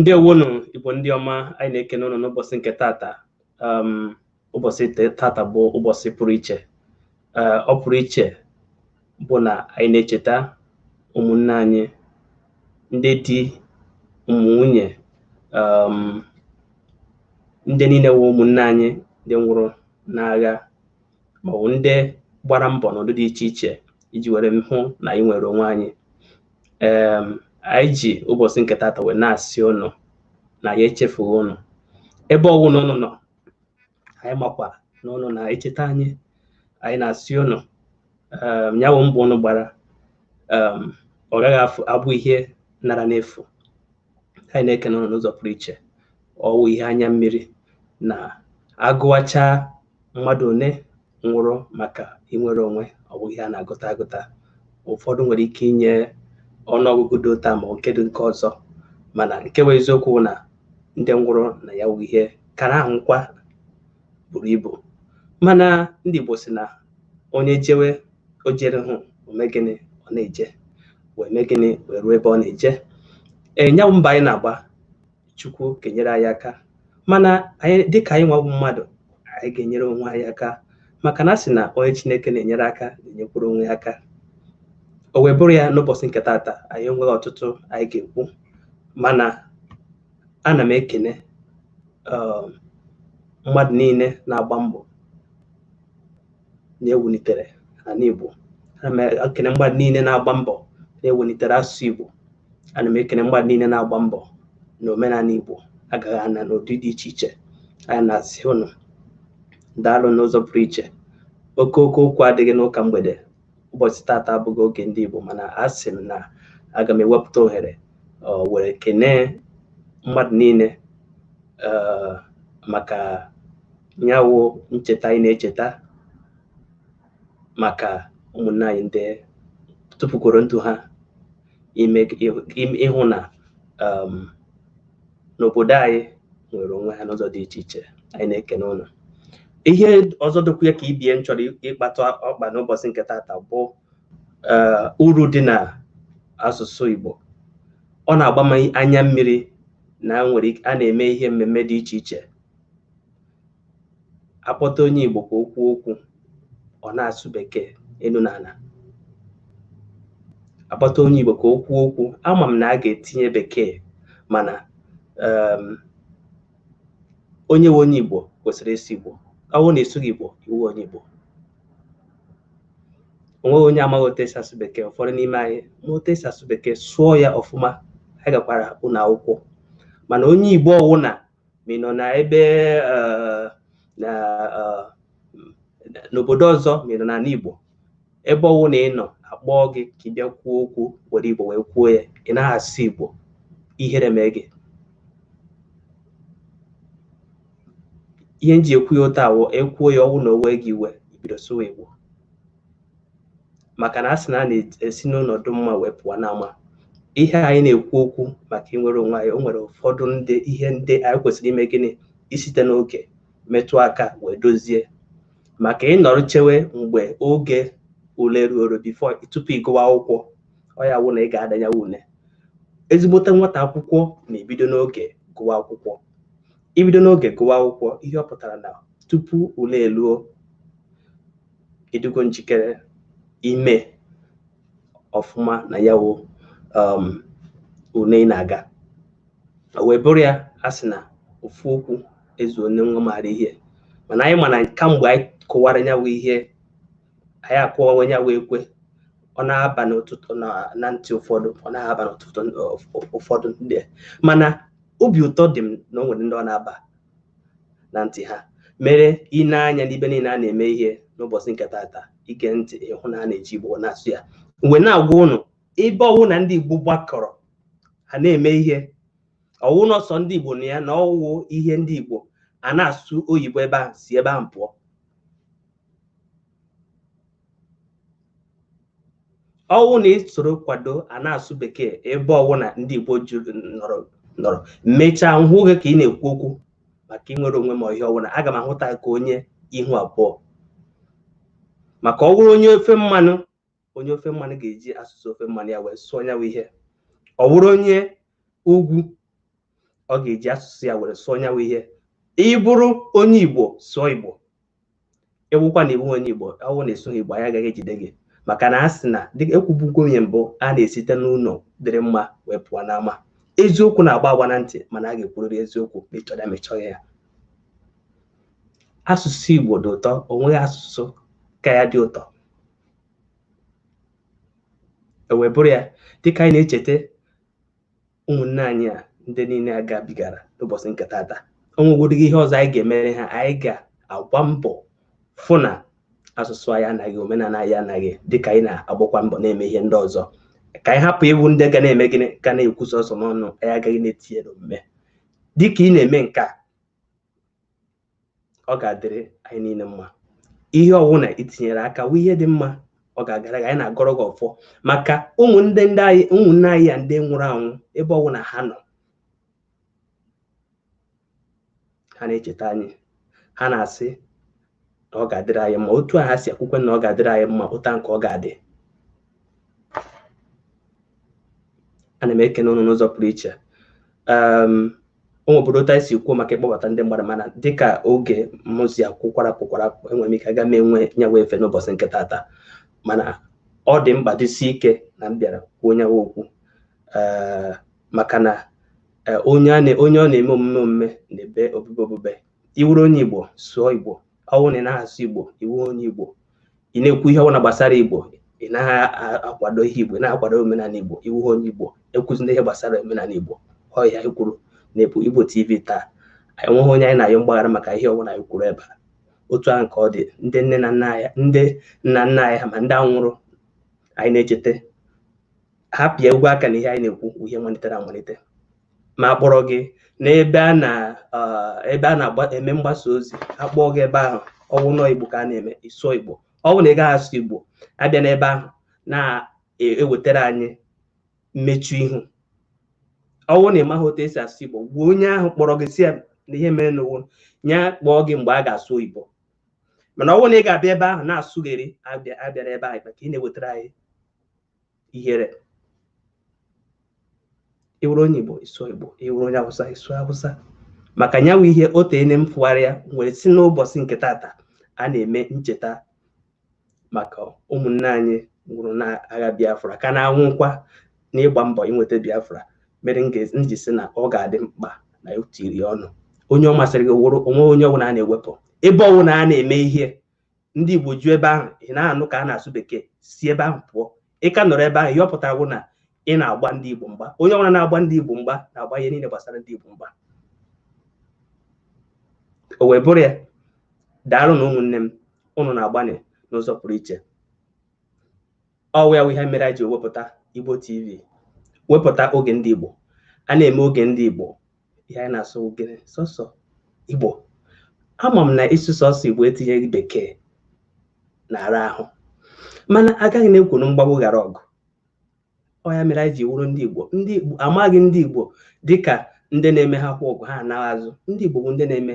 ndewonu igbo ndị ọma anyị na-ekene ụnụ n'ụbọchị nke tata um, ụbọchị te- tata bụ ụbọchị pụrụ iche Eh, ọ pụrụ iche bụ na anyị na-echeta ụmụnne anyị ndị di ụmụ nwunye um, ndị niile wụ ụmụnne anyị ndị nwụrụ n'agha maọbụ ndị gbara mbọ n'ụdị dị iche iche iji were hụ na anyị nwere onwe anyị um, anyị ji ụbọchị nke tata wee na-asị ụnụ na anyị echefughị ụnụ ebe ọwụna ụnụ nọ anyị makwa na ụnụ na-echeta anyị anyị na-asị ụnụ um, ya bụ mbọ ụnụ gbara um, ọ gaghị afụ abụ ihe nara n'efu anyị na-ekene ụnụ n'ụzọ pụrụ iche ọwụ ihe anya mmiri na a gụwacha mmadụ one nwụrụ maka inwere onwe ọ bụ ihe a na-agụta agụta ụfọdụ nwere ike inye ọnụọgụgụ dị otu a ma nke dị nke ọzọ mana nke bụ eziokwu bụ na ndị nwụrụ na ya wụ ihe kara ahụ nkwa buru ibu mana ndị Igbo sị na onye jewe o jerughị o mee gịnị ọ na-eje wee mee gịnị wee ruo ebe ọ na-eje nya wụ mbọ anyị na-agba Chukwu ga-enyere anyị aka mana anyị dịka anyị nwa bụ mmadụ anyị ga-enyere onwe anyị aka maka na a sị na onye Chineke na-enyere aka na-enyekwuru onwe ya aka o wee bụrụ ya n'ụbọchị nke taata anyị enweghị ọtụtụ anyị ga-ekwu mana ana m ekene um, mmadụ niile na-agba mbọ na-ewulitere ana Igbo ana m ekene mmadụ niile na-agba mbọ na-ewulitere asụsụ Igbo ana m ekene mmadụ niile na-agba mbọ na omenala Igbo agaghị ana n'ụdị dị iche iche anyị na-asị ụnụ daalụ n'ụzọ pụrụ iche oke oke okwu adịghị n'ụka mgbede ụbọchị tata abụghị oge ndị Igbo mana asị m na aga m ewepụta ohere wee kenee mmadụ niile eh, maka nya wụ ncheta anyị na-echeta maka ụmụnne anyị ndị tụfukworo ndụ ha ime ime- ịhụ na um, na obodo anyị nwere onwe ha n'ụzọ dị iche iche anyị na-ekene ụnụ ihe ọzọ dịkwa ya ka ibe ya m chọrọ ịkpatụ ọkpa n'ụbọchị nke tata bụ eh, uru dị n'asụsụ Igbo ọ na-agba m anya mmiri na nwere a na-eme ihe mmemme dị iche iche akpọta onye Igbo ka o kwuo okwu ọ na-asụ bekee elu na ala akpọta onye Igbo ka o kwuo okwu ama m na a ga-etinye bekee mana um, onye wụ onye Igbo kwesịrị ịsụ Igbo ọwụ na ị sụghị Igbo ị wụ onye Igbo o nweghị onye amaghị otu esi asụ bekee ụfọdụ n'ime anyị ma otu esi asụ bekee sụọ ya ọfụma anyị gakwara ụlọ akwụkwọ mana onye Igbo ọwụna ma ị nọ na ebe eh, na eh, n'obodo ọzọ ma ị nọ n'ala Igbo ebe ọwụna ị nọ a kpọọ gị ka ị bịa kwuo okwu were Igbo wee kwuo ya ị naghị asụ Igbo ihere mee gị ihe m ji ekwu ya otu a wụ e kwuo ya ọwụ na o wee gị iwe i bido sụwa Igbo maka na a sị na a na-esi n'ụlọ dị mma wee pụọ n'ama ihe anyị na-ekwu okwu maka inwere onwe anyị o nwere ụfọdụ ndị ihe ndị anyị kwesịrị ime gịnị isite n'oge metụ aka wee dozie maka ị nọrọ chewe mgbe oge ule ruoro before tupu ị gụwa akwụkwọ ọ ya wụ na ị ga-ada nya wụ ule ezigbote nwata akwụkwọ na-ebido n'oge gụwa akwụkwọ ibido n'oge gụwa akwụkwọ ihe ọ pụtara na tupu ule eluo ị dịgo njikere ime ọfụma na ya wụ um, une ị na-aga o wee bụrụ ya a sị na ofu okwu ezuone nwa maara ihe mana anyị mana kamgbe anyị kwuwara ya wụ ihe anyị akụwawa ya wụ ekwe ọ na-aba na ntị na na ntị ụfọdụ ọ naghị aba na ntị ụfọdụ ndị mana obi ụtọ dị m na o nwere ndị ọ na-aba na ntị ha mere i nee anya n'ebe niile a na-eme ihe n'ụbọchị nke tata i gee ntị ị hụ na a na-eji Igbo na-asụ ya m wee na-agwa ụnụ ebe ọwụna ndị Igbo gbakọrọ ha na-eme ihe ọwụ na sọ ndị Igbo nọ ya na ọwụ ihe ndị Igbo a na-asụ oyibo ebe ahụ si ebe ahụ pụọ ọwụ na i soro kwado a na-asụ bekee ebe ọwụna ndị Igbo juru nọrọ nọrọ mechaa m hụ gị ka ị na-ekwu okwu maka inwere onwe ma ihe ọwụna aga m ahụta ka onye ihu abụọ maka ọ wụrụ onye ofe mmanụ onye ofe mmanụ ga-eji asụsụ ofe mmanụ ya wee sụọ nyawa ihe ọ wụrụ onye ugwu ọ ga-eji asụsụ ya were sụọ nyawa ihe ị bụrụ onye igbo sụọ igbo ekwukwana ị wụ onye igbo ọwụ na ị sụghị igbo anyị agaghị ejide gị maka na a sị na dịka e kwubugo oge mbụ a na-esite n'ụlọ dịrị mma wee pụọ n'ama eziokwu na-agba agba na ntị mana a ga-ekwurịrị eziokwu ma ị chọrọ ma ị chọghị ya asụsụ igbo dị ụtọ o nweghị asụsụ ka ya dị ụtọ e wee bụrụ ya dịka anyị na-echeta ụmụnne anyị a ndị niile a gabigara n'ụbọsị nke tata o nwegwodịghị ihe ọzọ anyị ga-emere ha anyị ga-agba mbọ fụ na asụsụ anyị anaghị omenala anyị anaghị dịka anyị na-agbakwa mbọ na-eme ihe ndị ọzọ ka anyị hapụ ịwụ ndị ga na-eme gịnị ga na-ekwu sọsọ n'ọnụ anyị agaghị na-etinye n'omume dịka ị na-eme nke a ọ ga-adịrị anyị niile mma ihe ọwụna itinyere aka wụ ihe dị mma ọ ga-agara gị anyị na-agọrọ gị ọfọ maka ụmụnne ndị anyị ụmụnne anyị a ndị nwụrụ anwụ ebe ọwụna ha nọ ha na-echeta anyị ha na-asị na ọ ga-adịrị anyị mma otu a ha si ekwukwa na ọ ga-adịrị anyị mma otu ahụ ka ọ ga-adị ana m ekene ụnụ n'ụzọ pụrụ iche o nwebudo otu anyị si kwuo maka ịkpọbata ndị mmadụ mana dịka oge mụzi akwụkwara pụkwara apụ enwere m ike aga m enwe nyawa efe n'ụbọsị nke tata mana ọ dị mkpa dịsi ike na m bịara kwuo nyawa okwu ee maka na onye ọ na-eme omume omume na-ebe obube obube ịwụrụ onye igbo sụọ igbo ọwụ na ị naghị asụ igbo ịwụghị onye igbo ị na-ekwu ihe ọbụla gbasara igbo ị naghị a- akwado ihe igbo ị naghị akwado omenala igbo ịwụghị onye igbo ekwuzina ihe gbasara omenala igbo ọ ya anyị kwuru na-ebu igbo tv taa anyị nweghị onye anyị na-ayọ mgbaghara maka ihe ọbụla anyị kwuru ebe a otu ahụ ka ọ dị ndị nne na nna anyị ndị nna nna anyị ha ma ndị ahụ nwụrụ anyị na-echeta ha pịa egwu aka na ihe anyị na-ekwu bụ ihe malitere amalite ma akpọrọ gị n'ebe a na ebe a na-eme mgbasa ozi akpọọ gị ebe ahụ ọwụ n'igbo ka a na-eme ịsụọ igbo ọ bụ na ị gaghị asụ igbo abịana ebe ahụ na-ewetara anyị mmechu ihu ọwụ na ịmaghị otu esi asụ igbo gwa onye ahụ kpọrọ gị sị ya na ihe mere n'ụwa ya kpọọ gị mgbe a ga-asụ oyibo mana ọwụ na ị ga-abịa ebe ahụ na-asụgheri abịana ebe ahụ ka ị na-ewetara anyị ihere ịwụrụ onye igbo ịsụọ igbo ịwụrụ onye awụsa ịsụọ awụsa maka nyawa ihe o teene m fụgharịa wee sị n'ụbọsị nke tata a na-eme ncheta maka ụmụnne anyị nwụrụ n'agha biafra ka na-anwụkwa n'ịgba mbọ inweta biafra mere m ga- m ji sị na ọ ga-adị mkpa na etiri ọnụ onye ọ masịrị gị wụrụ onwe onye ọbụla a na-ewepụ ebe ọbụla a na-eme ihe ndị igbo ju ebe ahụ ị na-anụ ka a na-asụ bekee si ebe ahụ pụọ ị ka nọrọ ebe ahụ ihe ọ pụtara bụ na ị na-agba ndị igbo mgba onye ọbụla na-agba ndị igbo mgba na-agba ihe niile gbasara ndị igbo mgba o wee bụrụ ya daalụnụ ụmụnne m ụnụ na-agbanị n'ụzọ pụrụ iche ọwụ ya wụ ihe mere anyị ji wepụta Igbo TV wepụta oge ndị Igbo a na-eme oge ndị Igbo ihe anyị na-asụ gịnị sọsọ Igbo ama m na ịsụ sọsọ Igbo etinyeghị bekee na-ara ahụ mana agaghị na-ekwo na mgbagbu ghara ọgụ ọ ya mere anyị ji wụrụ ndị Igbo ndị Igbo amaghị ndị Igbo dịka ndị na-eme ha kwa ọgụ ha anaghị azụ ndị Igbo bụ ndị na-eme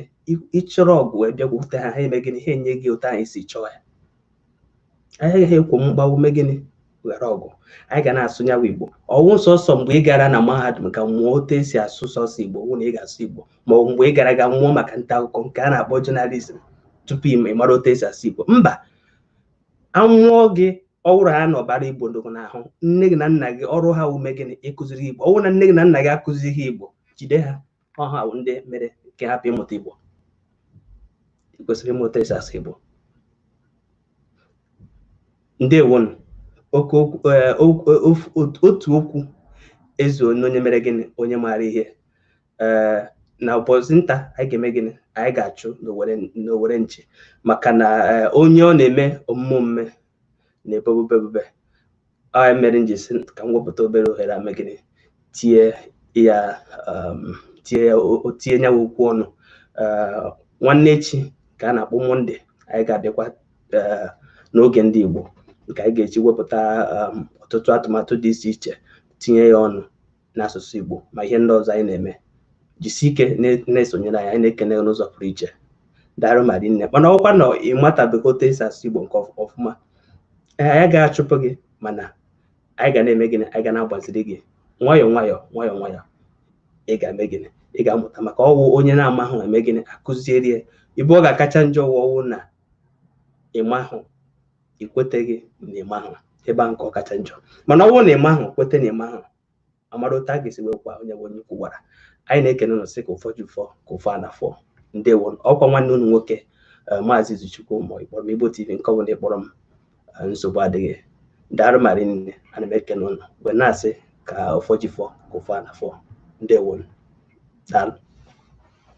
ị chọrọ ọgụ wee bịakwute ha ha eme gịnị ha enye gị otu ahụ ị si chọọ ya anyị agaghị ekwo mgbawu mee gịnị ghara ọgụ anyị ga na-asụ nyawa igbo ọwụ sọsọ mgbe ị gara na mahadum ga mụọ otu esi asụ sọsọ igbo wụ na ị ga-asụ igbo ma ọ bụ mgbe ị gara ga mụọ maka nta akụkọ nke a na-akpọ journalism tupu ị ma- ị mara otu esi asụ igbo mba amụọ gị ọwụrụ ha na ọbara igbo dị gị n'ahụ nne gị na nna gị ọrụ ha wụ ime gịnị ịkụziri igbo ọwụ na nne gị na nna gị akụzighị igbo jide ha ọ ha bụ ndị mere nke hapụ ịmụta igbo ị kwesịrị ịmụta esi asụ igbo ndewonu oke okwu ee, okwu- ee, ofu- otu otu okwu ezuona onye mere gịnị onye maara ihe ee na ụbọchị nta anyị ga-eme gịnị anyị ga-achụ n'owere n'owere nchi maka na ee, onye ọ na-eme omume omume na-ebe obube obube ọ nya mere m ji sị ka m wepụta obere ohere a mee gịnị tie ya um, tie ya o- o- tie nyawa okwu ọnụ Eh, nwanne echi ka a na-akpọ Monday anyị ga-abịakwa eh, n'oge ndị Igbo nke anyị ga-eji wepụta um, ọtụtụ atụmatụ dị iche iche tinye ya ọnụ n'asụsụ Igbo ma ihe ndị ọzọ anyị na-eme jisi ike na-esonyere anyị anyị na-ekene n'ụzọ pụrụ iche daarụ ma rinne mana ọwụkwa na ị matabeghị otu esi asụ Igbo nke ọfụma ee anyị agaghị achụpụ gị mana anyị ga na-eme gịnị anyị ga na-agbaziri gị nwayọọ nwayọọ nwayọọ nwayọọ ị ga-eme gịnị ị ga-amụta maka ọwụ onye na-amahụ eme gịnị akụziere ya ebe ọ ga-akacha njọ ọwụ na ịmahụ ị kweteghị na ịmahụ ebe ahụ ka ọ kacha njọ mana ọ bụrụ na ịmahụ kweta na ịmahụ amara otu a ga-esi wee kwa onye bụ onye ukwu gwara anyị na-ekene ụnụ sị ka ụfọdụ ụfọ ka ụfọ a na-afọ ndewo ọkwa nwanne unu nwoke eh, maazị Izuchukwu ma ị kpọrọ m Igbo TV nke ọbụla ị kpọrọ m eh, nsogbu adịghị daarụ ma rinne ana m ekene ụnụ wee na-asị ka ụfọdụ ụfọ ka ụfọ a na-afọ ndewo daalụ